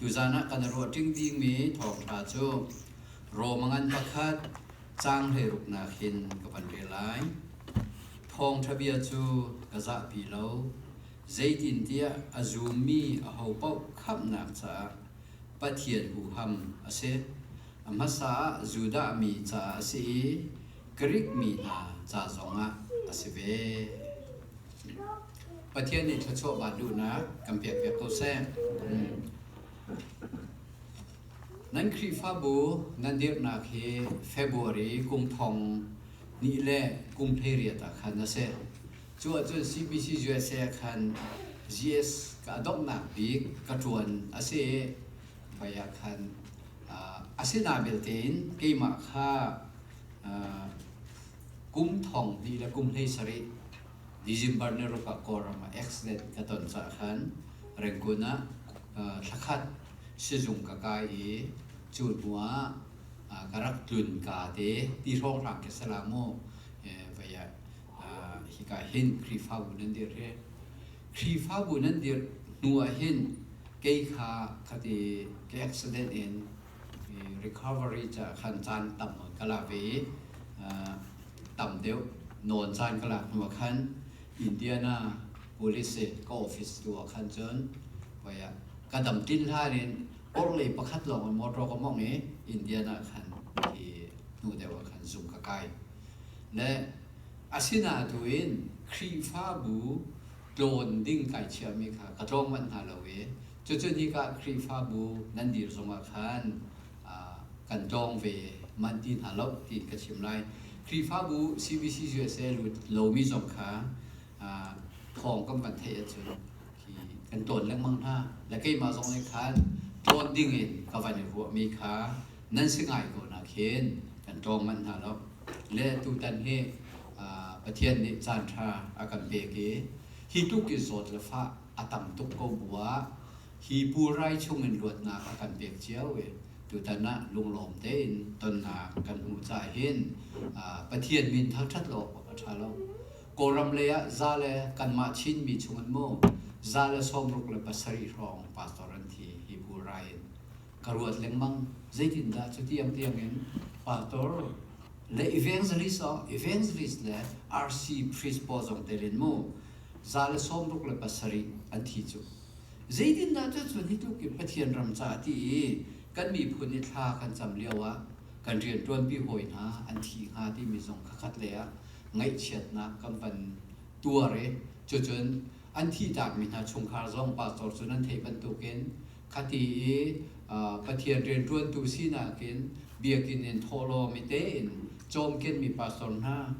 Tuzan ah kan ruah ṭing dingmi thawngṭha cu Rom a ngan pakhat caang hleiruknak hin ka van rel lai. Thawngṭha bia cu ka zahpi lo. Zeitintiah a zummi aho paoh khamhnak caah Pathian huham a si. A hmasa ah Judah mi caah a si i Grik mi hna ca zongah a si ve. Pathian nih thluachuahva duhnak kan pekpiak ko seh. Nan Khrihfabu nan dirhnak hi February kum thong ni le kum hleiriat ah khan a si. Cu ahcun CBC USA ah khan GS ka donghnak bik ka ṭuan a si i hmai ah khan a si na vialte in keimah kha kum thong hnih le kum hlei sarih December ni ruk ah Kawlram ah accident ka ton caah khan Rangoon ah thla khat sizung ka kai i cu hnu ah ka rak tlun ka te ti hrawnghrang ke sala mu vaya hika hin Khrihfabu nan dir hi Khrihfabu nan dir hnu ah hin kei kha khati ke accident in recovery caah khan caan tam ka lak ve i tam deuh nawn caan ka lak hnuah khan Indiana police i ka office tu ah khan cun koyah ka dam tlin hlan in orhlei pakhat lawng in motor ka mong i Indiana khan hi hnu deuh ah khan zung ka kai le asinain tu in Khrihfabu tlawn ding kai chiami kha ka tlawng manh hna lo i Cucu nikah Khrihfabu nan dir zongah khan kan ṭawng ve manh ti hna loh tiin ka chim lai. Khrihfabu CBC usa lomi zong kha thawngkam kan theih ahcun hi kan ṭawn lengmang hna. Le keimah zong nih khan ṭawn dingin ka van i ruahmi kha nan si ngai ko nakhin kan ṭawng manh hna loh. Le tutan hi Pathian nih caanṭha a kan pek i hi tluk in zawt le fah a tam tuk ko bu ah hi pulrai chungin luatnak a kan pek cio i tutan ah lunglawm tein tonnak kan hmuh cah hin Pathian min thangṭhat lo awk a ṭha lo. Kawlram lei ah za le kanmah Chinmi chungin maw za le sawmruk le pasarih hrawng pastor an thi hi pulrai in ka ruat lengmang. Zeitindah cutiang tiangin Pastor le evangelist oh evangelist le RC priest pawl zong telin mu za le sawmruk le pasarih an thi cu. Zeitindah cucu hitukin Pathian ram ca ti i kan miphun i thla kan cam lioah kan rianṭuanpi hawi hna an thi hnga timi zong khakhat lei ah ngaihchiatnak kan van tuar i cucun an thihtakmi hna chungkhar zong pastor cu nan theih bantukin Khati i Pathian rianṭuantu sinak in biakinn in thawh law mitein cawmkenmi pastor hna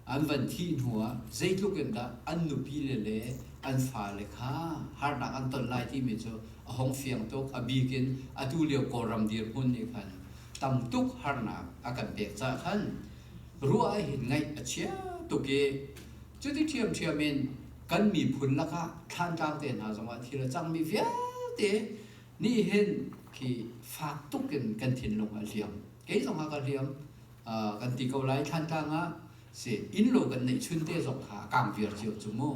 an van thih hnuah zeitluk in dah an nupile le an fale kha harnak an ton lai timi cu a hung fiang tuk. A bik in atulio Kawlram dirhmun nih khan tam tuk harnak a kan pek caah khan ruah ahhin ngaih a chia tuk i cuti ṭhiamṭhiam in kan miphun lakah thlantlang te hna zongah thil a cangmi vialte nih hin khi fak tuk in kan thinlung a hliam kei zong ha ka hliam uh, kan ti ko lai thlantlang ah si innlo kan neih chun te zong kha kang viar cio cu mu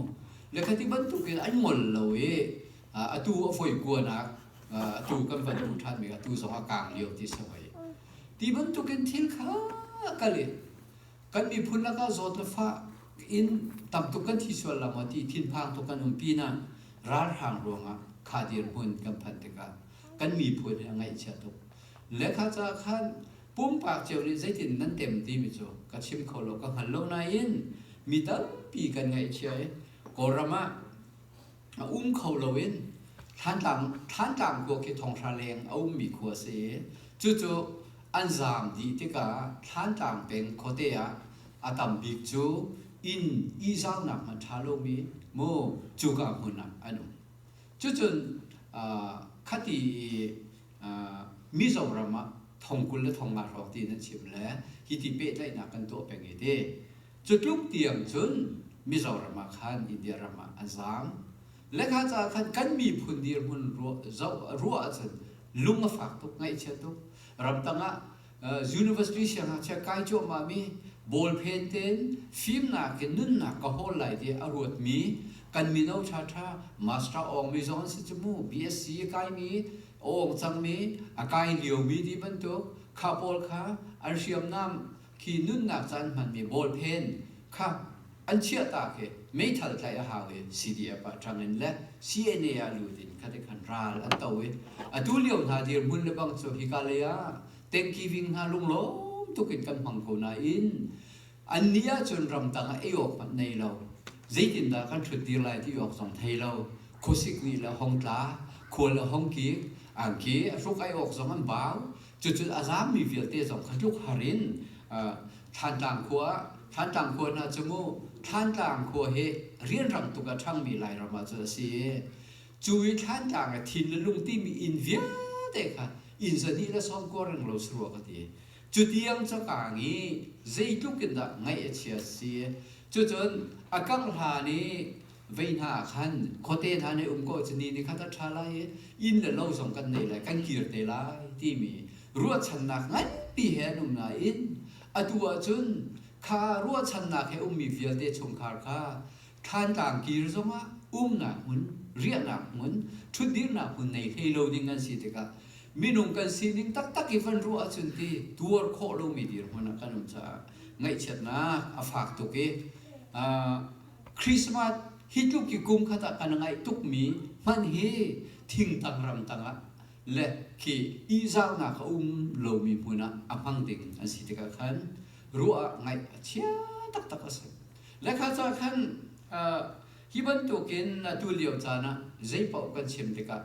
le khati bantukin an ngol lo i uh, atu a foi kuanak uh, atu kan van duh ṭhanmi atu zong a kang lio ti sawai ti bantukin thil kha kal in kan miphun lakah zawt le fah in tamtuk kan thi sual la maw ti thinphang tuk kan um pinah ralhrang ruangah kha dirhmun kan phanh tikah kan miphun hi a ngaihchia tuk lekha ca khan pumpak cio nih zeitin nan tem timi cu ka chim kho lo ka hngal lo nain mi tampi kan ngaihchia i kawlram ah A um kho lo in thlantlang thlantlang khua khi thonghra leng a ummi khua a si i cucu an zaam dih tikah thlantlang peng khuate ah a tam bik cu inn ihzaunak hmanh ṭha lomi mu cuka hmun ah an um. Cucun ah, khati i ah, Mizoram ah thong kul le thong nga hrawng ti in an chim le hi ti pehtlaihnak kan tuah peng i ti. Cutluk tiang cun Mizoram ah khan India ram ah an zaang. Le kha ca khan kan miphun dirhmun ruah ahcun lung a fak tuk, ngaihchia tuk. Ramtang ah university siangngakchia kai cuahmahmi bawlphen tein fimnak in nunnak ka hawl lai tiah a ruatmi kan mino ṭhaṭha Master Aung mi zong an si cu mu. BSc a kaimi, a awng cangmi, a kai liomi ti bantuk kha pawl kha an hriamnam khi nunnak caan hmanmi ballpen kha an chiahtak hi meithal tlai a hau i CDF ah ṭang in le CNA ah lut in khatik khan ral an to i atu lio hna dirhmun le bang cu hika lei ah tengkiving hna lunglawm tuk in kan hmang ko nain an ni ahcun ramtang ah ei awk hmanh nei lo zeitindah kan hrut dir lai ti awk zong thei lo khuasik nih le hongtla khual le hongki angki a hruk ai awk zong an bau Cucu a zaammi vialte zong kha tluk har in Thlantlang khua Thlantlang khua hna cu mu Thlantlang khua hi rianrang tuk a ṭhangmi Lairam ah cu a si i cu i Thlantlang a thin le lung timi inn vialte kha inn zahnih le sawm kua reng lo saruah ka ti cutiang cu kaang i zeitluk in dah ngaih a chia si cucun a kangh hlan i vei hna ah khan khuate hna nih um ko cu ni ni khat a ṭha lai i inn le lo zong kan nei lai kan kir te lai timi ruahchannak nganpi he an um nain atu ahcun kha ruahchannak he ummi vialte chungkhar kha thlantlang kir zongah umnak hmun riahnak hmun ṭhutdirhnak hmun nei hlei lo ding an si tikah minung kan sining taktak i van ruah ahcun ti tuar khawh lomi dirhmun ah kan um caah ngaihchiatnak a fak tuk i Christmas hi tluk i kum khat ah kan ngaih tukmi hmanh hi thingtang ramtang ah le khi ihzarnak a um lomi hmun ah a hmang ding an si tikah khan ruah ah ngaih a chia taktak a si. Le kha ca khan uh, hi bantukin atu lio caan ah zeipaoh kan chim tikah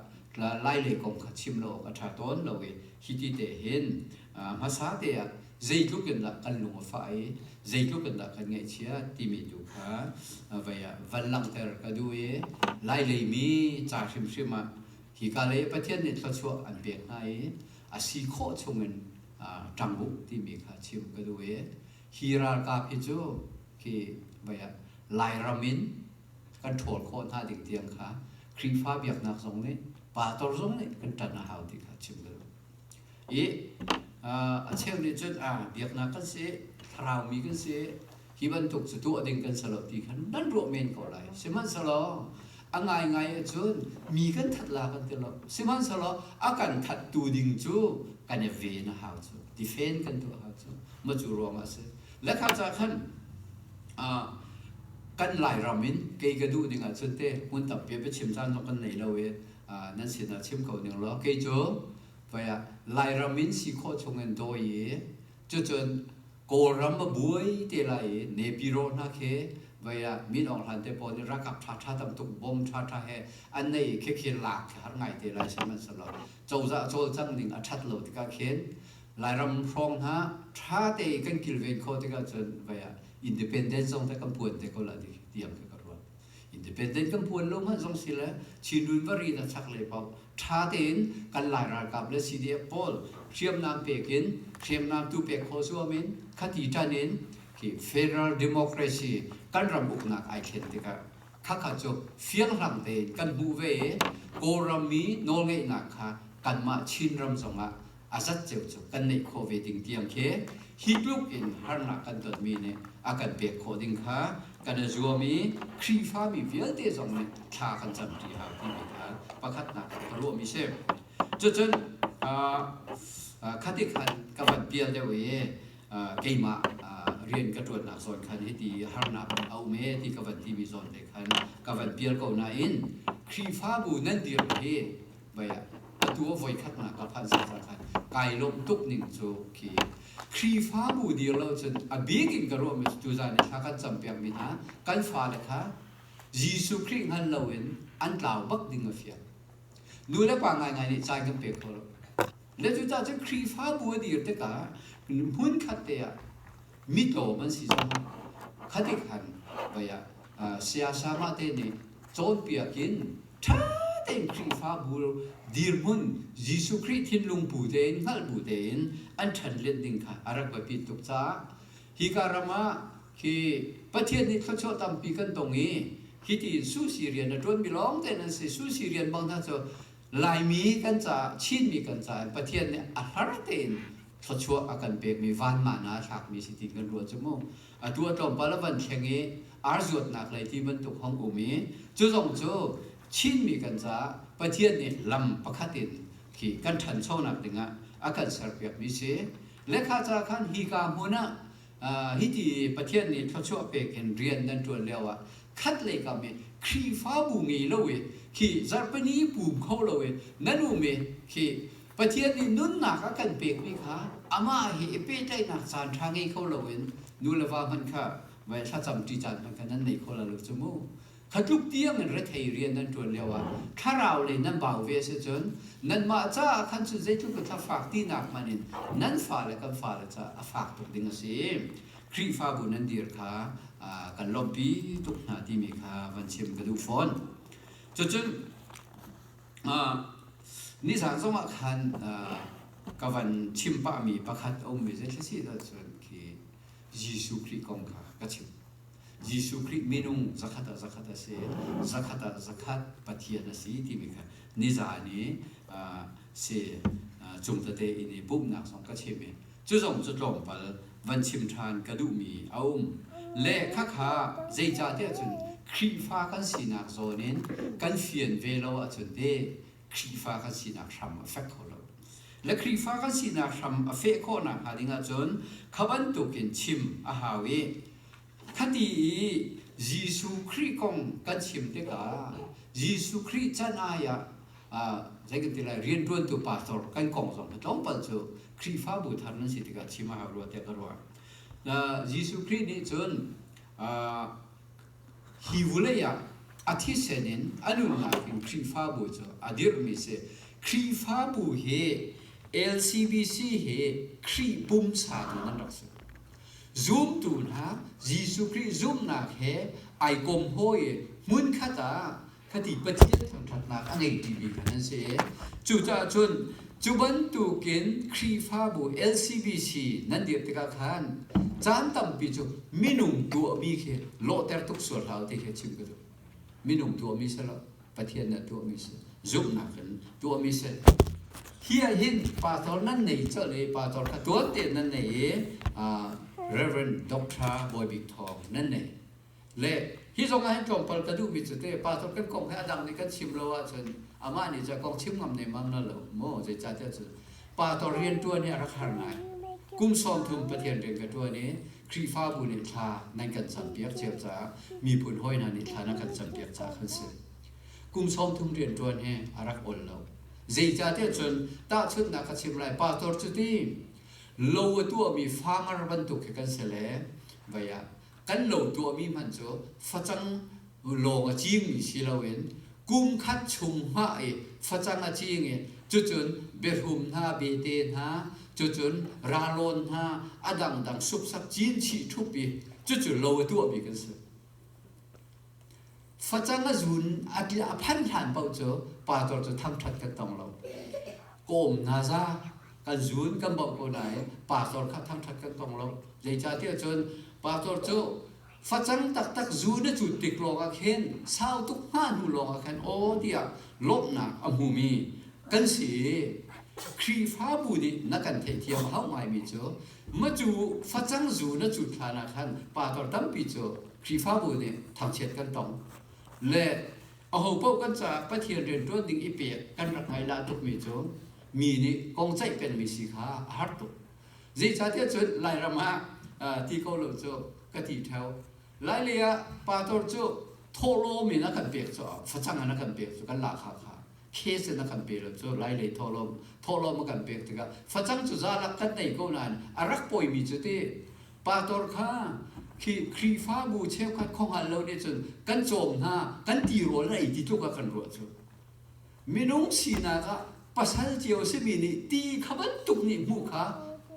lai lei kong kha chim lo awk a ṭha tawn lo i hi ti te hin hmasa teah zeitluk in dah kan lung a fah i zeitluk in dah kan ngaihchia timi tu kha vai ah van langhter ka duh i lai leimi ca hrimhrim ah hika lei Pathian nih thluachuah an pek hna i a si khawh chungin ṭang u timi kha chim ka duh i hi ralkap hi cu khi vai ah Lairam in kan ṭhawl khawh hna ding tiang kha Khrihfa biaknak zong nih pastor zong nih kan ṭan a hau ti kha chim ka duh. i a cheu nih cun biaknak kan si, thlaraumi kan si, hi bantuk cu tuah ding kan si lo ti khan nan ruah men ko lai. Sihmanhsehlaw a ngaingai ahcun mi kan that la kan ti lo. Sihmanhsehlaw a kan thattu ding cu kan i ven a hau cu. Tifen kan tuah a hau cu. Maw cu ruangah a si. Le kha cah khan kan Lairam in kei ka duh ding ahcun te hmun tampi a biachim caan zong kan nei lo i nan sinah chim ko ning law kei cu vai ah Lairam in si khawh chungin daw i cucun Kawlram a buai te lai i nepiro hna khi vai ah min awk hlan te pawl nih rakap ṭhaṭha tamtuk bom ṭhaṭha he an nei khekhe lak khi har ngai te lai sim an si lo cozah cawlcang ning a ṭhat lo tikah khin Lairam hrawng hna ṭha te kan kilven khawh tikah cun vai ah independence zong te kan puan te ko la tiang khi ka ruah independent kan puan lo manh zong si le chinrun vari na chak le pau tha tein kan lai ralkap le CDF pawl hriamnam pek in hriamnam tu pek kho suam in khati tan in hi federal democracy kan ram uknak ai thlen tikah khakha cu fiang hlang tein kan hmuh ve i kawlram mi nawlngeihnak kha kanmah Chin ram zongah a zat cio cu kan neih khawh ve ding tiang khi hi tluk in harnak kan tonmi nih a kan pek khawh ding kha kan i zuam i Khrihfami vialte zong nih thla kan camṭi hau timi kha pakhatnak ah ka ruahmi si. Cucun khatik khan ka van pial deuh i keimah rian ka ṭuannak zawn khan hiti harnak in a um e ti ka van timi zawn te khan ka van pial ko nain Khrihfabu nan dirh hi Voi atu a voikhatnak a phanh zungzal khan kai lawmh tuk ning cu khi Khrihfabu dir lo cun a bik in ka ruahmi cu tuzan i thla kan campiakmi hna kan fale kha Jesuh Khrih hngal loin an tlau bak ding a fiang. Nu le pa ngaingai nih cai kan pe kho lo. Le cucaah cun Khrihfabu a dir tikah hmunkhat te ah mitawm an si zong khati khan vai ah siasama te nih cawnpiak in ṭha tein Khrihfabu dirhmun Jesuh Khrih thinlung bu tein hngalh bu tein an ṭhanhlen ding kha a rak va pit tuk caah hika ram ah khi Pathian nih thluachuah tampi kan tong i hiti in Susi rian a ṭuanmi lawngte nan si Susi rian bang hna cu Laimi kan caah, Chinmi kan caah Pathian nih a hlar tein thluachuah a kan pekmi vanma hna a thlakmi si ti kan ruah cu mu. Atu a tlawmpal a van thleng i ar zuatnak lei ti bantuk hong um i cu zong cu Chinmi kan caah Pathian nih lam pakhat in khi kan ṭhanchonak dingah a kan serpiakmi si. Lekha ca khan hika hmun ah Hiti Pathian nih thluachuah pek in rian nan ṭuan lioah khatlei kam i Khrihfabu ngei lo i khi zarhpini pum kho lo i nan um i khi Pathian nih nunnak a kan pekmi kha amah he i pehtlaihnak caanṭha ngei kho loin nu le va hmanh kha vai thlacam ṭi caan hmanh kha nan nei kho lo cu mu. Kha tluk tiangin rethei rian nan ṭuan lioah thlaraulei nan bau ve a si cun nanmah caah khan cun zeitluk in thla fak tinak hmanh in nan fale kan fale caah a fak tuk ding a si. Khrihfabu nan dir kha kan lawmhpi tuk hna timi kha van chim ka duh fawn. Cucun nizaan zongah khan ka van chim pahmi pakhat a ummi zei thla si lo cun khi Jesuh Khrih kong kha ka chim. Jesuh Khrih minung zakhat ah zakhat a si, zakhat ah zakhat Pathian a si timi kha nizaan i si cung tete in i pumhnak zong ka chim i cu zong cu tlawmpal van chim ṭhan ka duhmi a um. Le khakha zeicahtiah cun Khrihfa kan sinak zawn in kan fian ve lo ahcun ti Khrihfa kan sinak hram a fek kho lo. Le Khrihfa kan sinak hram a feh khawhnak hnga ding ahcun kha bantukin chim a hau i khati i Jesuh Khrih kong kan chim tikah Jesuh Khrih can ai ah zei kan ti lai rianṭuantu pastor kan kong zong hi tlawmpal cu Khrihfabu thar nan si tikah chim a hau rua tiah ka ruah. Jesuh Khrih nih cun Hi vulei ah a thisen in a nunnak in Khrihfabu cu a dirhmi a si. Khrihfabu hi LCBC hi Khrih pumsa tu nan rak si. Zumtu hna Jesuh Khrih zumhnak he ai kom hawi in hmunkhat ah Fati Pathian thangṭhatnak a ngeitu mi kha nan si. Cucaah cun cu bantukin Khrihfabu LCBC nan dirh tikah khan caan tampi cu minung tuahmi khi lawhter tuk sual hlah ti khi chim ka duh. Minung tuahmi si lo, Pathian nih a tuahmi si, zumhnak in tuahmi si. Hi ah hin pastor nan nei colh i pastor kha tuan tein nan nei i Reverend Doctor Bawi Bik Thawng nan nei. le hi zong ah hin tlawmpal ka duhmi cu teh pastor kan kong hi a dang nih kan chim lo ahcun amah nih cun kong chim ngam nemmam na lo maw zeicahtiah cu pastor riantuan hi a rak har ngai kum sawm thum pathian rian ka tuan i khrihfabu nih thla nan kan campiak cio caah miphun hawi hna nih thla nan kan campiak caah kan si kum sawm thum riantuan hi a rak ol lo zeicahtiah cun tahchunhnak ka chim lai pastor cu ti lo a tuahmi fangar bantuk khi kan si le vaya kan lo tuahmi hmanh cu facang lawng a cingmi si loin kum khat chung hmah i facang a cing i cucun biahrum hna bete hna cucun ralawn hna a dangdang supsak cinchih thup i cucu lo a tuahmi kan si. facang a zun a til a phan hlan paoh cu pastor cu thangṭhat kan tong lo kawm hna za kan zun kan bauh ko nain pastor kha thangṭhat kan tong lo zeicahtiah cun pastor cu facang taktak zun a cut tik lawngah khin sau tuk hnga hnu lawngah khan aw tiah lawmhnak a hmumi kan si i Khrihfabu nih na kan theihthiam a hau ngaimi cu Macu facang zu na cut hlan ah khan pator tampi cu Khrihfabu nih thangchiat kan tong. Le aho paoh kan caah Pathian rian ṭuan ding i pek kan rak ngaih la tukmi cu mi nih kong ceih penmi si kha a har tuk. Zeicahtiah cun Lairam ah ti ko lo cu ka ti theo. Lai lei ah pator cu thawhlawm in a kan pek cu facang in a kan pek cu kan la kha kha case in a kan pe lonh cu lai lei thawhlawm thawhlawm a kan pek tikah facang cu zalak kan tei ko nain a rak pawimi cu ti pastor kha khi khrihfabu cheukhat khonghal lo nih cun kan cawm hna kan tirawl na ei ti tluk a kan ruah cu minung sinak ah pasal cio simi nih ti kha bantuk nih hmuh kha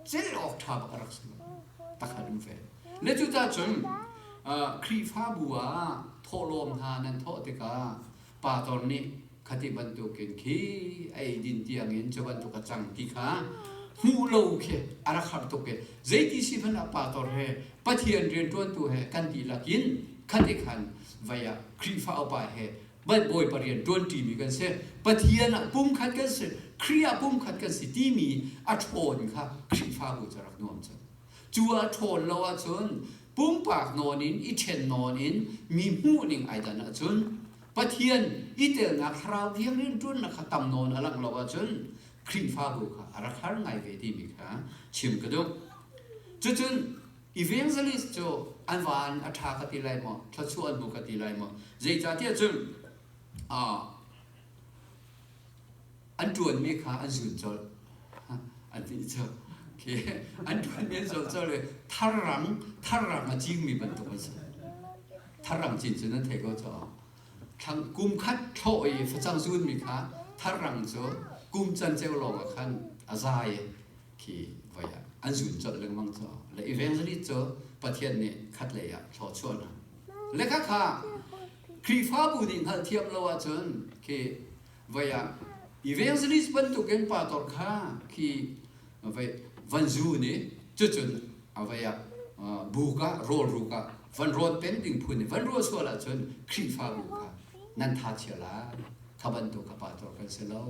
cel awk ṭha bak a rak si takhat um ve ne cucah cun khrihfabu ah thawhlawm hna nan thawh tikah Pastor nih khati bantukin khi a eidin tiangin cu bantuk a cang ti kha hmuh lo khi a rak har tuk i zeiti si hmanh ah pastor he Pathian rianṭuantu he kan dihlak in khati khan vai ah Khrihfa upa he Bawipa rian ṭuanṭimi kan si Pathian ah pumkhat kan si Khrih ah pumkhat kan si timi a ṭhawn kha Khrihfabu cu a rak nuam cang Cu a ṭhawl lo ahcun pumpak nawn in i ṭhen nawn in mi hmuhning ai dan ahcun Pathian i telnak thlarau thiang rianṭuannak kha tam nawn a langh lo ahcun Khrihfabu kha a rak har ngai ve timi kha chim ka duh. Cucun evangelist cu an van a ṭha ka ti lai maw, thluachuah an hmu ka ti lai maw, zeicahtiah cun uh, an ṭuanmi kha an zul colh an ti cang okay an ṭuanmi an zul colh i tharrang tharrang a cingmi bantuk an si tharrang cin cun an thei ko caah thlang kum khat thlawh i facang zunmi kha tharrang cu kum can ceu lawng ah khan a za i khi voi ah an zun colh lengmang caah le evangelist cu Pathian nih khatlei ah thlawchuah hna le khakha Khrihfabu nih hngalhthiam lo ahcun khi voi ah evangelist bantuk in pa tor kha khi voi van zu nih cucun a voi ah buk ah rawlruk ah van rawt peng ding phun i van ruah sual ahcun Khrihfabu kha nan tha chia lai kha bantuk ka pa tor kan si lo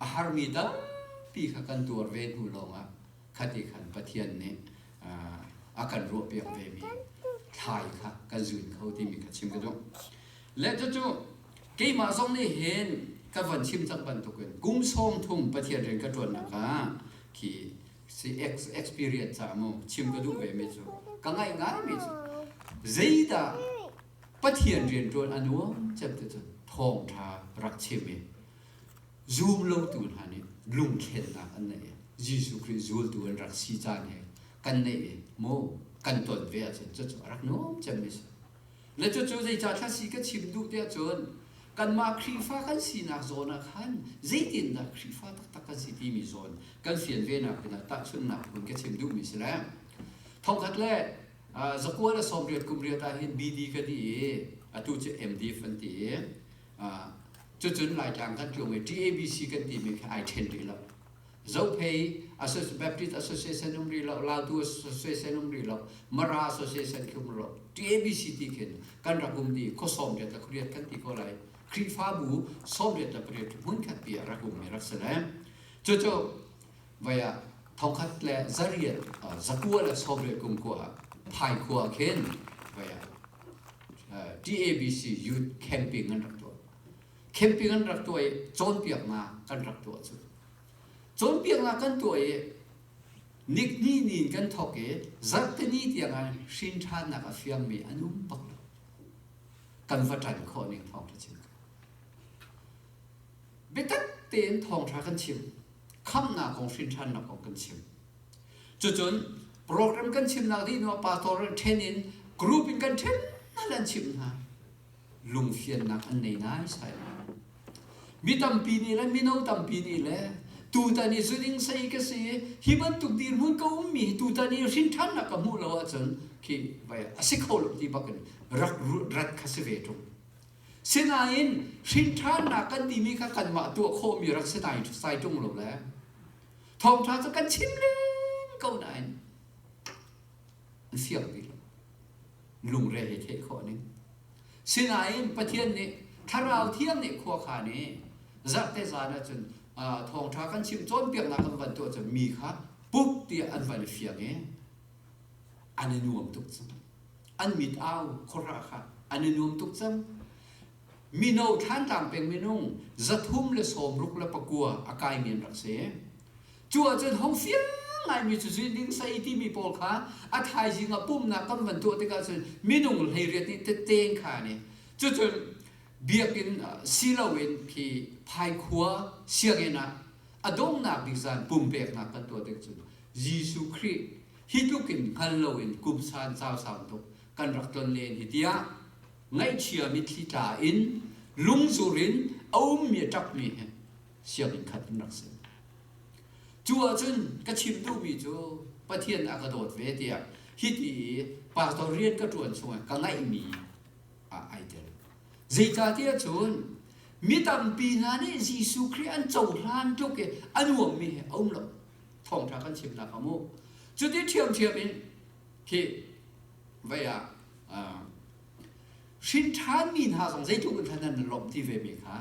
a harmi tampi kha kan tuar ve hnu lawngah khati khan Pathian nih a kan ruahpiak vemi thlai kha kan zuin kho timi kha chim ka duh le cu keimah zong nih hin ka von chim cang bantukin kum sawm thum Pathian rian ka ṭuannak ah khi si experience ca mu chim ka duh ve mi cu ka ngaih ngai mi cu zeidah Pathian rian ṭuan a nuam cem ti cun thawngṭha rak chim i Zumlotu hna nih lungkhennak an neih i Jesuh Khrih zultu an rak si caan he kan neih i maw kan ton ve ahcun cucu a rak nuam cemmi a si. Le cucu zeicah thla si ka chim duh tiah cun kanmah Khrihfa kan sinak zawn ah khan zeitindah Khrihfa taktak kan si timi zawn kan fian venak pinah tahchunhnak hun ka chim duhmi si le thongkhat le uh, zakual a sawm riat kum riat ah hin BD ka di i atu cu MDF an ti i Cucun Laitlang kan tlung i TABC kan timi kha ai ṭhen rih lo. Zophei Baptist Association um rih lo, Lautu Association um rih lo, Mara Association khi um rih lo. TABC ti khin kan rak ummi khua sawmriat le khuriat kan ti ko lai. Khrihfabu sawmriat le pariat hmun khatpi ah rak ummi rak si lai. Cucu vai ah thokhat le zariat zakua le sovre kum kua ha phai khua khin vai ah TABC youth camping an rak tuah camping an rak tuah i cawnpiaknak kan rak tuah cu cawnpiaknak kan tuah i nikni ni in kan thok i zarhteni tiangah hrin ṭhannak a fiangmi an um bak lo kan va ṭan khawh ning thawng ṭha chin Biatak tein thawngṭha kan chim. Khamhnak kong hrinṭhannak kong kan chim. Cucun program kan chimnak dih hnuah pastor nih ṭhen in group in kan ṭhen hna an chimh hna. Lungfiannak an nei naisai lai. Mi tampi nih le mino tampi nih le tutan i zuning sei ka si hi bantuk dirhmun ka ummi hi tutan i hrinṭhannak ka hmuh lo ahcun khi vai a si kho lo ti bak in rak rat kha si ve ṭung. Sinain hrinthannak kan timi kha kanmah tuah khawhmi rak si nai sai ṭung lo le thawngṭha cu kan chim len ko nain an fiang ti lo lungre he theh khawh ning sinain Pathian nih thlarau thiang nih khua kha nih zarhte zan ah cun thawngṭha kan chim cawnpiaknak kan van tuah cun mi kha pup tiah an van i fiang i an i nuam tuk cang an mit au khora kha an i nuam tuk cang mino thlantlang peng minung zathum le sawmruk le pakua a kai men rak si cu ahcun hong fiang ngaimi cu zuining sai timi pawl kha a thaizing a pumnak kan van tuah tikah cun minung hleiriat nih teteng kha nih cucun biakinn silo in phi phaikhua sianginn ah a donghnak bik zan pumpeknak kan tuah tik cun Jesuh Khrih hi tluk in hngal loin kumsan sausau tuk kan rak ton len hi tiah ngaihchia mitthli tla in lungzur in a ummi a ṭakmi he sianginn khat in rak si. Cu ahcun ka chim duhmi cu Pathian a ka dawt ve tiah hiti i pastor rian ka ṭuan chung ah ka ngaihmi ah ai tel. Zeicahtiah cun mi tampi hna nih Jesuh Khrih an cohlan tluk i a nuammi he a um lo. thawngṭha kan chimnak a mu cuti ṭhiamṭhiam in khi vei ah hrin ṭhanmi hna zong zeitluk in khan nan lawmh ti ve mi kha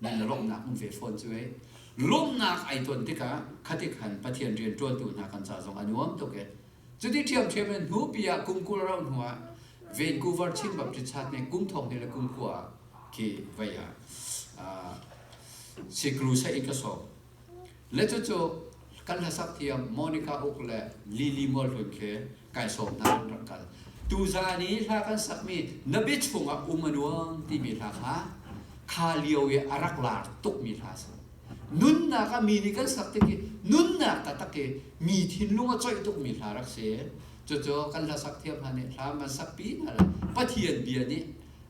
nan le lawmhnak um ve fawn cu ei lawmhnak ai ton tikah khatik khan Pathian rian ṭuantu hna kan ca zong a nuam tuk e cuti ṭhiamṭhiam in hnupi ah kumkul ro hnu ah Vancouver Chin Baptist Church nih kum thong hnih le kum khua ah khi vei ah siklu saih in ka sawm Le cucu kan hlasak thiam Monica Uk le Lili Mual Hlun khi kai sawm hna an rak kal. Tuzan i hla kan sakmi na bia chungah um a nuam timi hla kha kha lio i a rak laar tukmi hla a si. Nunnak ah mi nih kan sak tik i nunnak taktak i mi thinlung a coih tukmi hla rak si. Cucu kan hla sak thiam hna nih hla man sakpi hna le Pathian bia nih,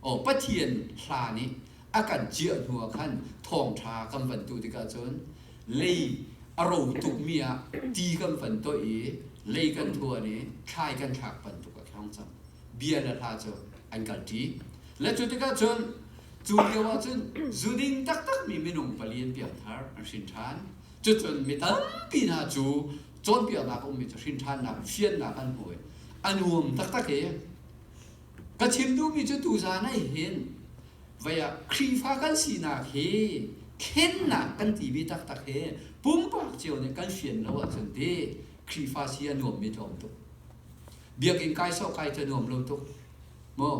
o Pathian hla nih a kan ciah hnu ah khan thawngṭha kan van tuh tikah cun lei a ro tukmi ah ti kan van toih i lei kan thuan i thlai kan thlak bantuk a thlang cang bia le hla cu an kal ṭi le cu tikah cun cu lio ah cun zuding taktakmi minung pali an pianthar an hrin ṭhan cucun mi tampi hna cu cawnpiaknak a ummi cu hrin ṭhannak fiannak an hmu i a nuam taktak i Ka chim duhmi cu tuzan ah hin vai ah Khrihfa kan sinak hi thlennak kan ti ve taktak hi pumpak cio nih kan fian lo ahcun ti Khrihfa si a nuammi tlawm tuk. Biakinn kai sawh kai cu nuam lo tuk. Mu,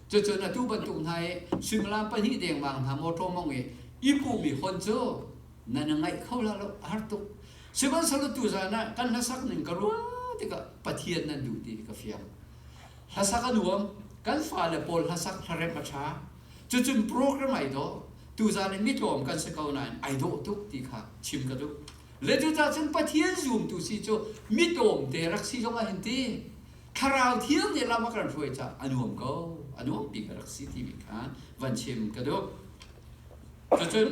cucun atu bantuk hna i suimilam pahnih dengmang hna mawṭaw mong i i puhmi hon cu nan i ngaih kho la lo a har tuk. Sihmanhsehlaw tuzan ah kan hlasak ning ka ruah tikah Pathian nan duh ti hi ka fiang. Hlasak a nuam, kan fale pawl hlasak hlaremh a ṭha. Cucun program ai dawh. Tuzan in mitlawm kan si ko nain ai dawh tuk ti kha chim ka duh. Zeicah cun Pathian zumtu si cu mitlawmte rak si zong a in ti. Thlarau thiang nih lam a kan hruai caah a nuam ko. A nuam bik a rak si timi kha van chim ka duh. Cucun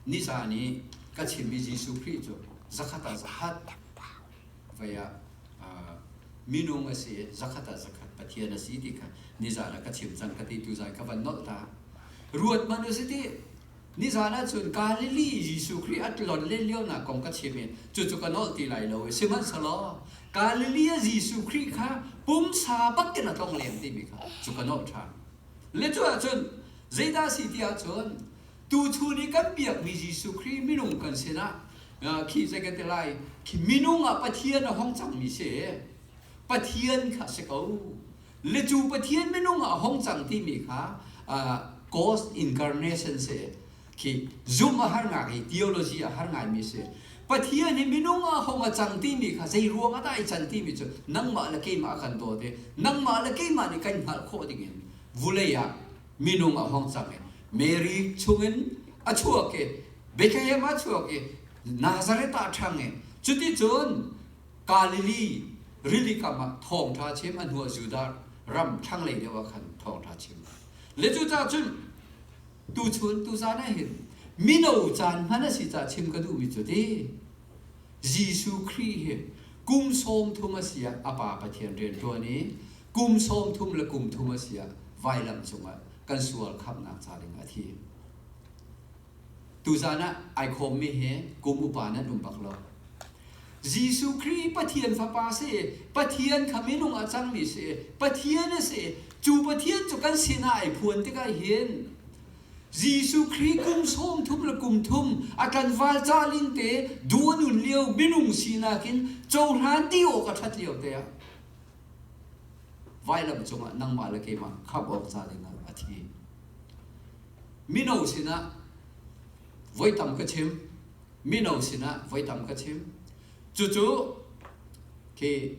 nizan i ka chimmi Jesuh Khrih cu zakhat ah zahat vei ah minung a si zakhat ah zakhat pathian a si ti kha nizan ah ka chim cang ka ti tu zan ka van nolh ta ruat man u si ti nizan ah cun Galilee Jesuh Khrih a tlon le lio na kong ka chim in cu cu ka nolh ti lai lo sihmanhselaw Galilee Jesuh Khrih kha pumsa bak in a tlong lem ti mi kha cu ka nolh ṭhan le cu ah cun zeidah si ti ah cun Tuchun i kan biakmi Jesuh Khrih minung kan sinah khi zei kan ti lai khi minung ah Pathian a hong cangmi si Pathian kha si ko le cu Pathian minung ah a hong cang timi kha ghost incarnation si khi zumh a har ngai i theology a har ngaimi si Pathian hi minung ah hong a cang timi kha zei ruang ah dah ai can timi cu nangmah le keimah kan dawt i nangmah le keimah nih kan hngalh khawh dingin vulei ah minung a hong sak i Mary chungin a chuak i Bethlehem a chuak i Nazareth ah a ṭhang i cuticun Galilee rili kam ah thawngṭha chim a hnuah Judah ram thlanglei deuh ah khan thawngṭha chim le cucaah cun tuchun tuzan ah hin mino caan hman a si caah chim ka duhmi cu ti Jesuh Khrih hi kum sawm thum a si ah a Pa Pathian rian ṭuan i kum sawm thum le kum thum a si ah vailam cungah kan sual khamhnak ca ding a thi. Tuzan ah ai khawmmi hi kum upa nan um bak lo. Jesuh Khrih Pathian Fapa si, Pathian kha minung a cangmi si, Pathian a si, cu Pathian cu kan sinah ai phuan tikah hin Jesuh Khrih kum sawm thum le kum thum a tlanval ca lingte du a nun lio minung sinak in cohlan ti awk a ṭhat lio te ah vailam cungah nangmah le keimah khamh awk ca dingah a thi. Mino sinah voi tam ka chim, mino sinah voi tam ka chim, Cucu khi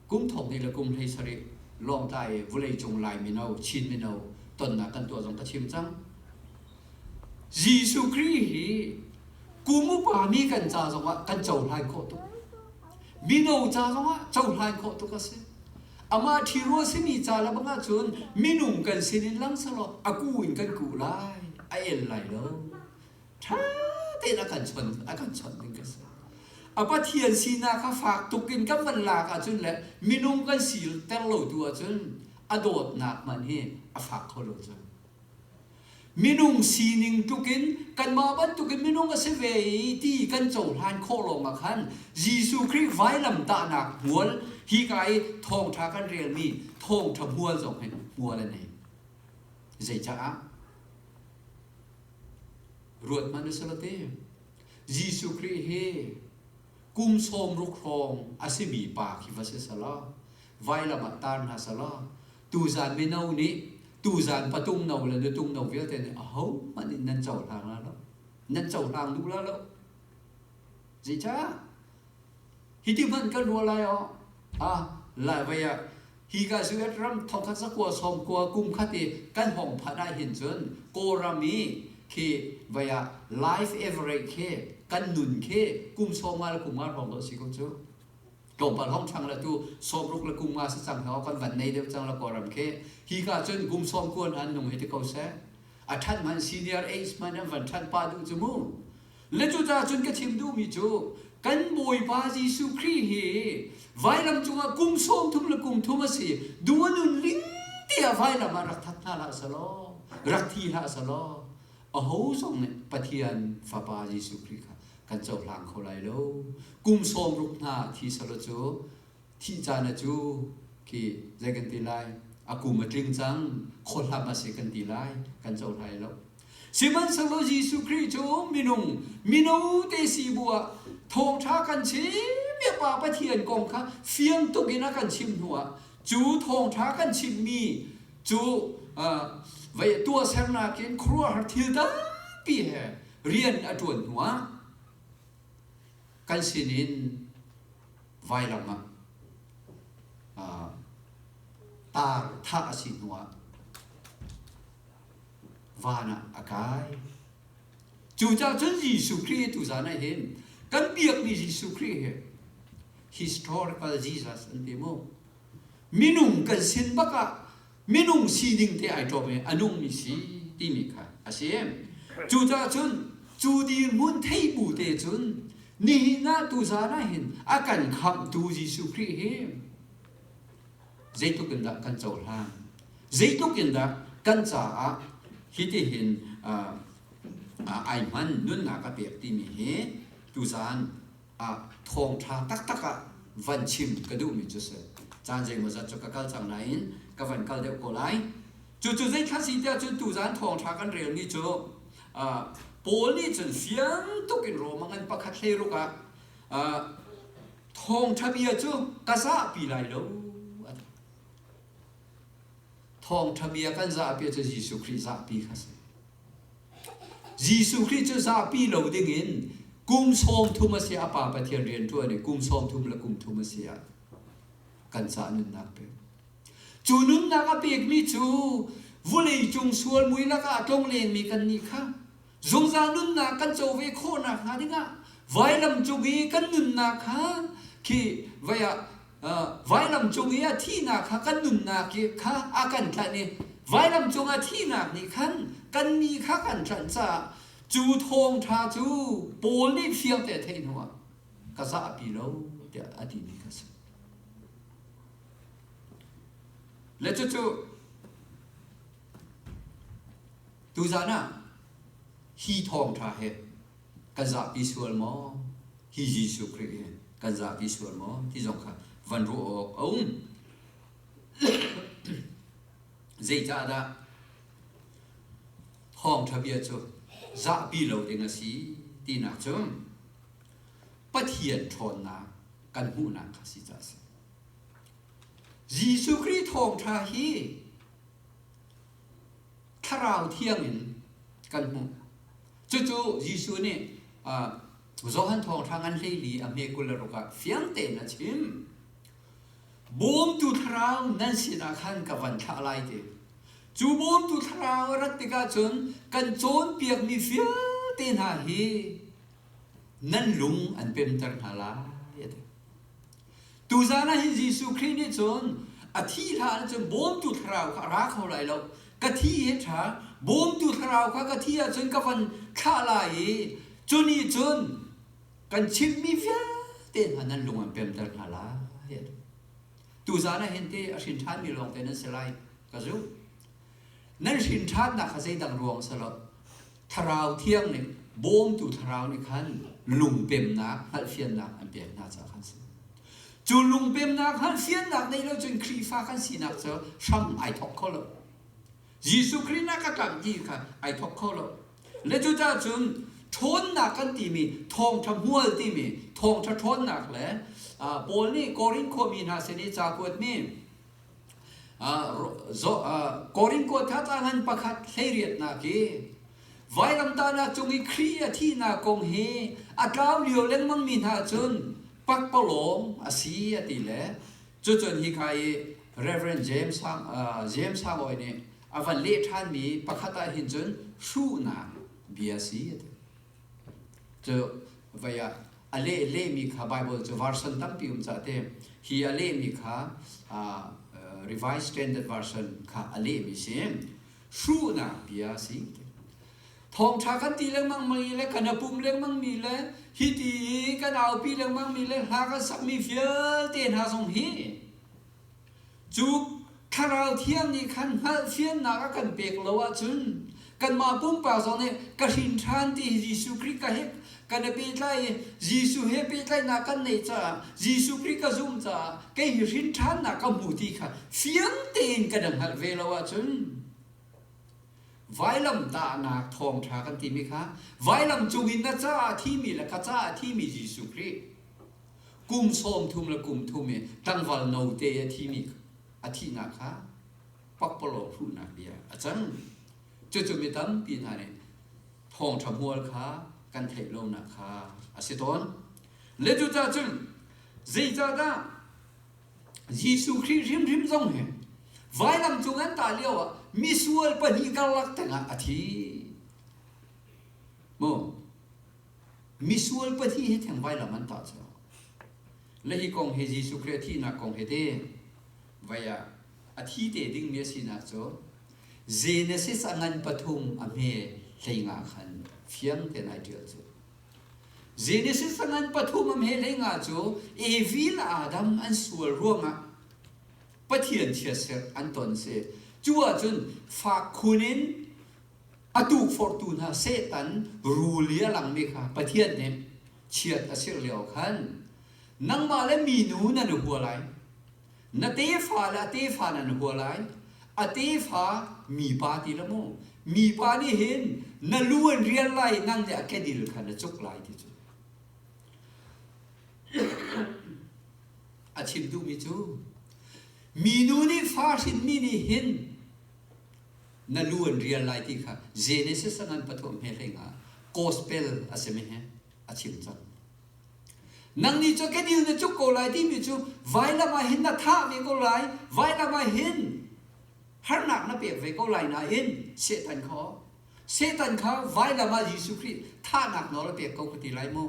kum thong hnih le kum hlei sarih lawngtlai i vulei cung lai mino Chin mino tonnak kan tuah zong ka chim cang. Jesuh Khrih hi kum upa mi kan ca zongah kan cohlai khawh tuk. Mino ca zongah cohlai khawh tuk a si. Amah ṭhiro a simi ca le bangah cun minung kan sinin lang selaw a ku in kan kuh lai, a el lai lo. ṭha tein a kan chawnh a kan chawnh ding ka si. A Pathian sinak kha fak tuk in kan van lak ahcun le minung kan si ter lo tu ahcun a dawtnak man hi a fak kho lo cang. Minung sining tluk in kanmah bantukin minung a si ve i ti kan cohlan khawh lawngah khan Jesuh Khrih vailamtahnak hmual hika i thawngṭha kan relmi thawngṭha hmual zong hin hmual a nei. Zeicaah? ruat hmanh na sala te Jesuh Khrih he kum sawm ruk hrawng a simi pa khi va si sala vailam ah tar hna sala tuzan mino nih tuzan patung no le nutung no vialte nih aho hmanh in nan cohlang la lo nan cohlang duh la lo zeicah Hi ti hmanh kan ruah lai oh ha lai vei ah hi ka US ram thongkhat sakua sawm kua kum khat i kan hong phanh ah hin cun Kawlram i khi vei ah life average khi kan nun khi kum sawm nga le kum nga hrawng dawh a si ko cu. Tlawmpal hong chang le tu sawmruk le kum nga si cang heo kan van nei deuh cang le Kawlram khi hi ka cun kum sawm kuan an nung hi ti ko seh a ṭhan hman senior age hman an van ṭhan pa duh cu mu Le cucaah cun ka chim duhmi cu kan Bawipa Jesuh Khrih hi vailam cungah kum sawm thum le kum thum a si duh a nunling tiah vailam ah rak that hna hlah selaw rak thi hlah selaw aho zong nih Pathian fapa Jesuh Khrih kha kan cohlang kho lai lo kum sawm ruk hna thi selaw cu thih caan a cu khi zei kan ti lai a kum a tling cang khohlam a si kan ti lai kan cohlai lo sihmanhsehlaw Jesuh Khrih cu minung mino te si bu ah thawngtha kan chimmi pa Pathian kong kha fiang tuk in a kan chimh hnu ah cu thawngtha kan chimmi cu vei tuah sernak in khuaruahhar thil tampi he rian a tuan hnu ah kan sin in vailam ah tar thah a si hnu ah van ah a kai. Cucaah cun Jesuh Khrih tu zan ah hin kan biakmi Jesuh Khrih hi historical Jesus an ti mu. Minung kan sin bak ah minung sining te ai ṭawm i a nungmi si timi kha a si. Cucaah cun cu dirhmun thei bu te cun nihin ah tuzan ah hin a kan khamhtu Jesuh Khrih hi zeitluk in dah kan cohlang zeitluk in dah kan caah hitihin ai hman nunnak a pek timi hi tuzan ah thawngṭha taktak ah van chim ka duhmi cu a si. Caan zeimawzat cu ka kal cang nain ka van kal deuh ko lai. Cucu zeithar si tiah cun tuzan thawngṭha kan relmi cu uh, Paul nih cun fiang tuk in Rom a ngan pakhat hlei ruk ah uh, thawngṭha bia cu ka zahpi lai lo a ti. Thawngṭha bia kan zahpi cu Jesuh Khrih zahpi kha a si. Jesuh Khrih cu zahpi lo dingin kum sawm thum a si a Pa Pathian rian ṭuan i kum sawm thum le kum thum a si ah kan ca nunnak pek. Cu nunnak a pekmi cu vawleicung sual mui lakah a tlong lenmi kannih kha Zungzal nunnak kan co ve khawhnak hnga dingah vailam cung i kan nunnak kha khi vai ah vailam cung i a thihnak kha kan nunnak kha a kan tlanh i vailam cung a thihnak nih khan kan mi kha kan tlanh caah cu thawngṭha cu Paul nih fiangte theih hnuah ka zahpi lo tiah a timi kha si. Le cucu Tuzan ah hi thawngṭha hi kan zahpi sual maw? Hi Jesuh Khrih hi kan zahpi sual maw? Ti zong kha van ruah awk a um. Zeicahdah thawngṭha bia cu zahpi lo ding a si tinak cu Pathian ṭhawnnak kan hmuhnak kha si ca a si. Jesuh Khrih thawngṭha hi Thlarau thiang in kan hmuh. Cucu Jesuh nih Johan Thawnghrang an hleili a hme kul le ruk ah fiang tein a chim. Bawmtu thlarau nan sinah khan ka van thlah lai ti. Cu bawmtu thlarau a rat tikah cun kan cawnpiakmi vialte hna hi nan lung an pemter hna lai. Tuzan ah hi Jesuh Khrih nih cun a thih hlan ah cun bawmtu thlarau kha a ra kho lai lo. Ka thi hi a ṭha. Bawmtu thlarau kha ka thi ah cun ka van thlah lai i cu nih cun kan chimhmi vialte hna nan lung an pemter hna lai. Tuzan ah hin ti a hrin ṭhanmi lawngte nan si lai ka zumh. nan hrin ṭhannak kha zeidang ruang si lo thlarau thiang ning bawmtu thlarau nih khan lungpemnak hngalhfiannak an pek hna caah khan si cu lungpemnak hngalhfiannak neih lo cun Khrihfa kan sinak cu hram ai thawk kho lo Jesuh Khrih nak ka tlang ti kha ai thawk kho lo le cucaah cun ṭhawnnak kan timi thawngṭha hmual timi thawngṭha ṭhawnnak le Paul nih Korin khuami hna sin i cakuat nih Korinko thatang han pakhat hleiriatnak hi vailamtah na cung i Khrih a thihnak kong hi a tlau lio lengmang mi hna cun pakpalawng a si a ti le cucun hika i Reverend James Hang James Hangoy nih a van leh ṭhan mi pakhat ah hin cun hruhnak bia a si a ti. Cu vei ah a leh lehmi kha Baibal cu version tampi um cah te hi a lehmi kha uh, Revised Standard Version kha a lehmi si hruhnak bia si thawngtha kan ti lengmang mi le kan apum lengmang mi le hi ti i kan aupi lengmang mi le hla kan sak mi vialte hna zong hi Cu Thlarau Thiang nih khan hngalhfiannak a kan pek lo ahcun kanmah pumpak zong nih ka hrin ṭhan ti hi Jesuh Khrih ka he kan i pehtlai i Jesuh he pehtlaihnak kan neih caah Jesuh Khrih ka zumh caah kei hi hrin ṭhannak ka hmu ti kha fiang tein ka dang hngalh ve lo ahcun vailam tahnak thawngṭha kan timi kha vailam cung in na caah a thimi le ka caah a thimi Jesuh Khrih kum sawm thum le kum thum i tlangval note a thimi a thihnak kha pakpalawng hruhnak bia a cang cucu mi tampi hna nih thawngṭha hmual kha kan theih lonak kha a si tawn le cucah cun zeicahdah Jesuh Khrih hrimhrim zong hi vailam cung an tah lio ah misual pahnih karlak tengah a thi mu Misual pahnih hi theng vailam an tah cio. Le hi kong hi Jesuh Khrih thihnak kong hi te vai ah a thi te ding mi a si na cu Genesis a ngan pathum a hme hlenga khan fiang ten ai tial cu Genesis a ngan pathum a hme hlenga cu evil Adam an sual ruangah Pathian chia ser an ton si cu ahcun fak khun in A tukforhtu hna Satan rul i a langmi kha Pathian nih chiat a sirh lio khan nangmah le minu nan i hua lai. Na tefa le a tefa nan hua lai. A tefa mipa ti lo mu. Mipa nih hin na lu an rial lai i nang nih a kedil kha na cuk lai ti cu. A chim duhmi cu minu nih fa hrinmi nih hin na lu an rial lai ti kha Genesis ah nan pathuam he hlei nga gospel a simi he a chim cang nangnih cu kenil na cuk ko lai timi cu vailam ah hin na thah ve ko lai vailam ah hin harnak na pek ve ko lai nain setan kha setan kha vailam ah Jesuh Khrih thahnak nawl a pek ko ka ti lai mu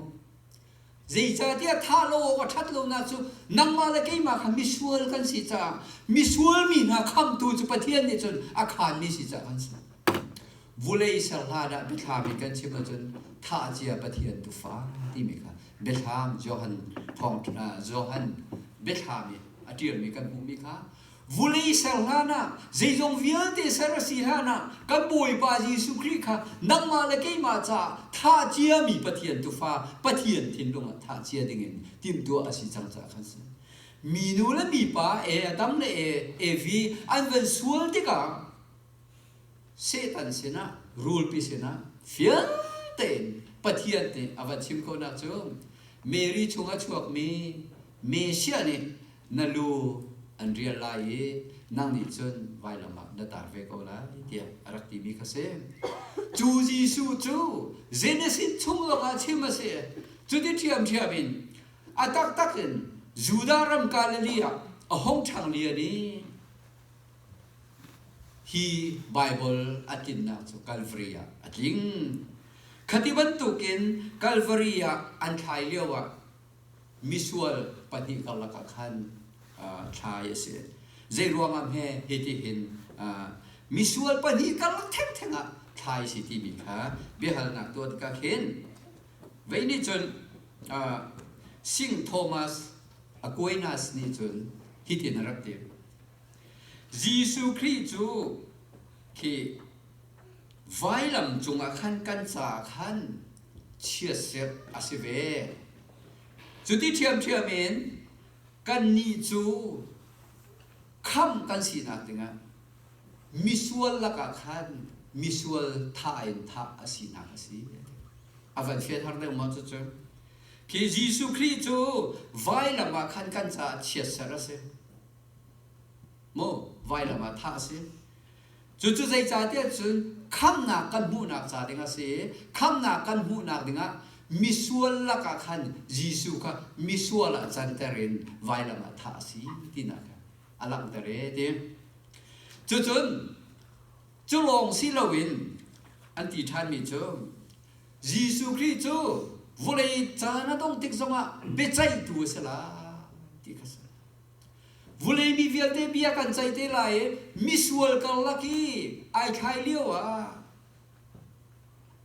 Zeicahtiah thah lo awk a ṭhat lonak cu nangmah le keimah kha misual kan si caah misual mi hna khamtu cu Pathian nih cun a khaanmi si caah kan si. Vulei ser hla dah biathlam in kan chim ahcun thah cia Pathian tufa timi kha biathlam Johan thawng Johan biathlam i a ṭialmi kan hmuhmi kha vulei ser hlanah zeizong vialte ser a si hlanah kan Bawipa Jesuh Khrih kha nangmah le keimah caah thlah ciami Pathian tufa Pathian thinlung ah thah cia dingin timhtuah a si cang caah kan si. Minu le mipa e, a tam le e, evi an van sual tikah Satan sinah, rulpi sinah fiangte in Pathian nih a van chim khawhnak cu Mary chung a chuakmi Messiah nih na lu an rial lai i nang nih cun vailam ah na tar ve ko lai tiah a rak timi kha si. Cu Jesuh cu Genesis chung lawngah chim a si. Cuti ṭhiamṭhiam in a taktak in Judah ram Galilee ah a hung ṭhang lian i hi Baibal a tlinnak cu Calvary ah a tling. Khati bantukin Calvary ah an thlai lioah misual pahnih karlak ah khan uh, thlai a si zei ruangah he hiti hin uh, misual pahnih karlak theng theng ah thlai si ti mi kha biahalnak tuan ka khin vei nih cun uh, sing thomas aquinas nih cun hitin a rak ti jesuh khrih cu khi Vailam cungah khan kan caah khan chiatset a si ve. Cuti ṭhiamṭhiam in kannih cu khamh kan sinak dingah misual lakah khan misual tha in thah a sinak a si. A van fian har deuh maw cucu. Khi Jesuh Khrih cu vailam ah khan kan caah chiatset a si. Mu, vailam ah thah a si. Cucu zeicahtiah cun khamnak kan hmuhnak ca ding a si i khamnak kan hmuhnak dingah misual lakah khan Jesuh kha misual ah canter in vailam ah thah a si tinak kha a langhter e ti. Cucun cu lawng si loin an ti ṭhanmi cu Jesuh Khrih cu vawlei caan a dong tik zongah biaceihtu a si lai ti kha a si. Vulei mi vialte bia kan ceih te lai i misual karlak i ai thlai lio ah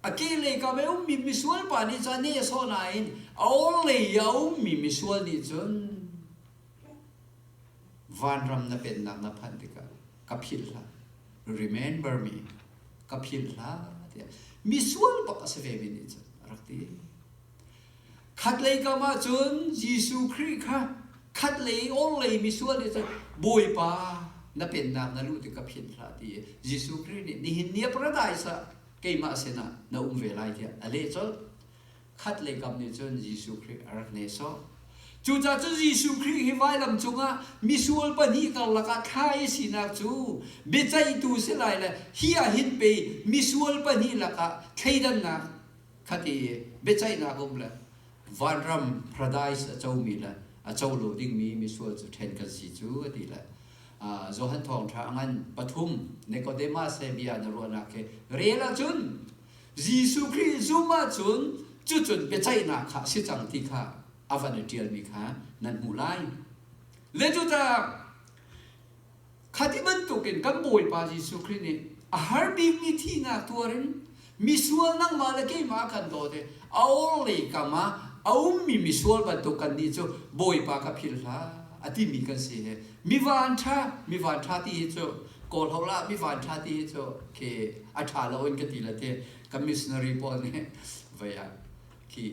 a kehlei kam i a ummi misual pa nih cun a neh sawh nain a orhlei i a ummi misual nih cun vanram na pennak na phanh tikah ka philh hlah remember me ka philh hlah tiah misual bak a si vemi nih cun a rak ti Khatlei kam ah cun Jesuh Khrih kha khatlei orhlei misual nih cun Bawipa na pennak na luh tik ka philh hlah ti i Jesuh Khrih nih nihin ni ah paradise ah keimah sinah na um ve lai tiah a leh colh. Khatlei kam nih cun Jesuh Khrih a rak nehsawh. Cucaah cun Jesuh Khrih hi vailam cungah misual pahnih karlak ah thla i sinak cu biaceihtu si lai le hi ah hin pei misual pahnih lakah thleidannak khati biaceihnak um le vanram paradise a comi le a co lo dingmi misual cu ṭhen kan si cu a ti le Johan Thawngṭha a ngan pathum Nicodemus he bia na ruahnak khi rel ahcun Jesuh Khrih zum ahcun cucun biaceihnak kha a si cang ti kha a van i ṭialmi kha nan hmuh lai. Le cucaah Kha ti bantukin kan Bawipa Jesuh Khrih nih a har bikmi thihnak tuar in misual nangmah le keimah a kan dawt i a orhlei kam ah a ummi misual bantuk kannih cu Bawipa ka philh hlah a timi kan si hi mivan ṭha mivan ṭha ti hi cu kawlho lah mivan ṭha ti hi cu khi a ṭha lo in ka ti le ti kan missionary pawl nih vei ah khi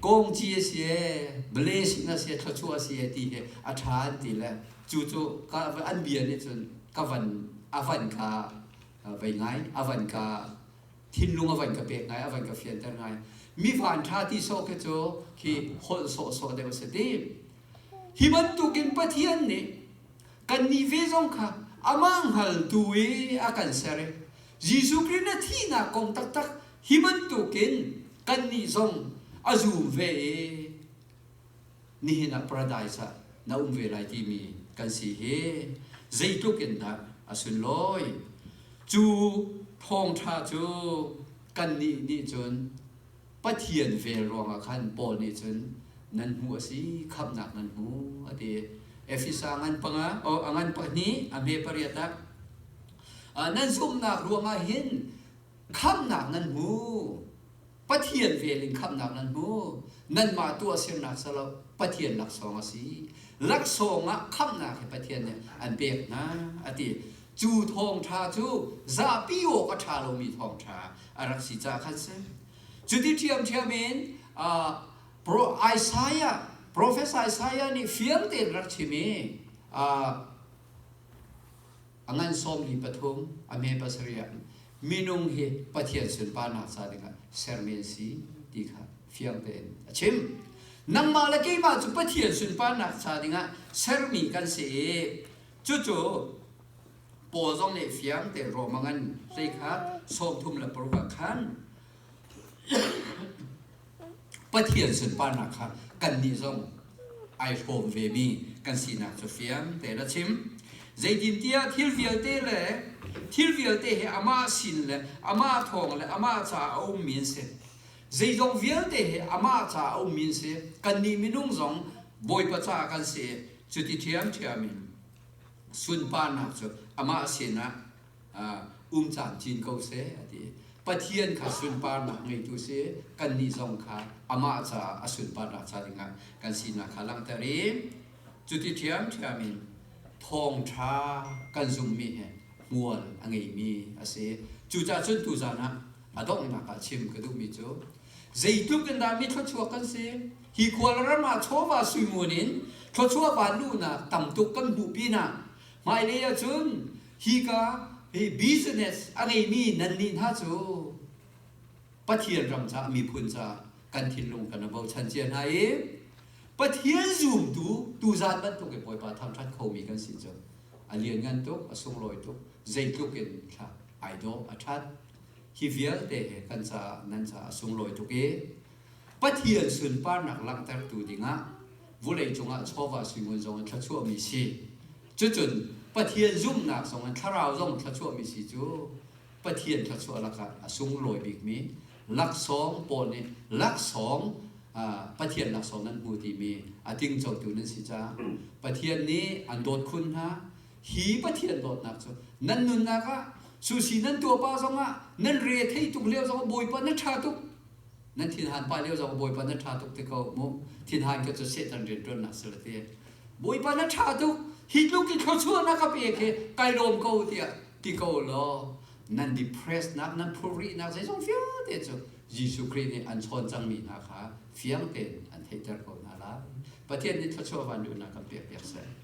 kongci a si ee, vale sin a si ee, thluachuah a si ee ti hi a ṭha an ti le cu cu ka an bia nih cun ka van a van kha vei ngai a van ka thinlung a van ka pek ngai a van ka fianter ngai mi van ṭha ti sawh khi cu khi holh sawhsawh deuh a si ti hi bantukin Pathian nih kannih ve zong kha amah hngaltu i a kan ser i Jesuh Khrih na thihnak kong taktak hi bantukin kannih zong a zum ve i nihin ah paradise ah na um ve lai timi kan si hi zeitluk in dah a sunlawi cu thawngṭha cu kannih nih cun Pathian vel ruangah khan Paul nih cun nan hnu a si khamhnak nan hmu a ti. Efesa ngan panga o a ngan pahnih a hme pariat ah nan zumhnak ruangah hin khamhnak nan hmu Pathian vel in khamhnak nan hmu nanmah tu a sirnak salo Pathian laksawng a si laksawng ah khamhnak he Pathian nih an pek hna a ti Cu thawngṭha cu zapi awk a ṭha lomi thawngṭha a rak si caah khan si. Cuti ṭhiamṭhiam in Isaiah, profesa Isaiah nih fiangte in a rak chim i a ngan sawmli pathum, a hme pasarih ah minung hi Pathian sunparnak ca dingah sermi an si ti kha fiangte in a chim. Nangmah le keimah cu Pathian sunparnak ca dingah sermi kan si i Cucu Paul zong nih fiang te Rome ngan hlei khat sawm thum le paruk ah khan Pathian sunparnak kha kannih zong ai hrawm ve mi kan sinak cu fiang te la chim zeitintiah thil vialte le thil vialte he amah sin le amah thawng le amah ca a um mi an si zeizong vialte he amah ca a um mi an si kannih minung zong Bawipa ca kan si Cuti ṭhiamṭhiam in sunparnak cu amah sinah um caan cin ko seh a ti. Pathian kha sunparnak ngeitu si kannih zong kha amah caah a sunparnak ca dingah kan sinak kha langhter i cuti ṭhiamṭhiam in thawngṭha kan zumhmi he hmual a ngeimi a si. Cucahcun tuzan ah A donghnak ah chim ka duhmi cu zeitluk in dah mi thluachuak kan si hi khual ram ah chawva suimun in thluachuah van luhnak tam tuk kan hmuh pinah hmailei ah cun hika hi business a ngeimi nannih hna cu Pathian ram caah miphun caah kan thinlung kan i bochan cia hna i Pathian zumtu tu zan bantuk in Bawipa thangṭhat khomi kan si cu a lianngan tuk a sunglawi tuk zeitluk in thla ai dawh a ṭhat hi vialte he kan caah nan caah a sunglawi tuk i Pathian sunparnak langhtertu dingah vulei cungah chawva suingun zong in thluachuahmi si. Cucun Pathian zumhnak zong in thlarau zong thluachuahmi si cu Pathian thluachuah lakah a sunglawi bikmi laksawng pawl nih laksawng Pathian laksawng nan hmu timi a tingcotu nan si caah Pathian nih an dawt khun hna. Hi Pathian dawtnak cu nan nunnak ah susi nan tuahpa zongah nan re thei tuk lio zong Bawipa na ṭha tuk nan thinhan pa lio zong Bawipa na ṭha tuk ti ko mu thinhan kha cu Satan rianṭuannak si lo ti Bawipa na ṭha tuk hi tluk in thluachuahnak ka pek hi kai lawm ko tiah ti ko law nan depressnak nan phurihnak zeizong vialte cu Jesuh Khrih nih an chawn cangmi hna kha fiang tein an theihter ko hna lai Pathian nih thluachuah van duhnak kan pekpiak seh.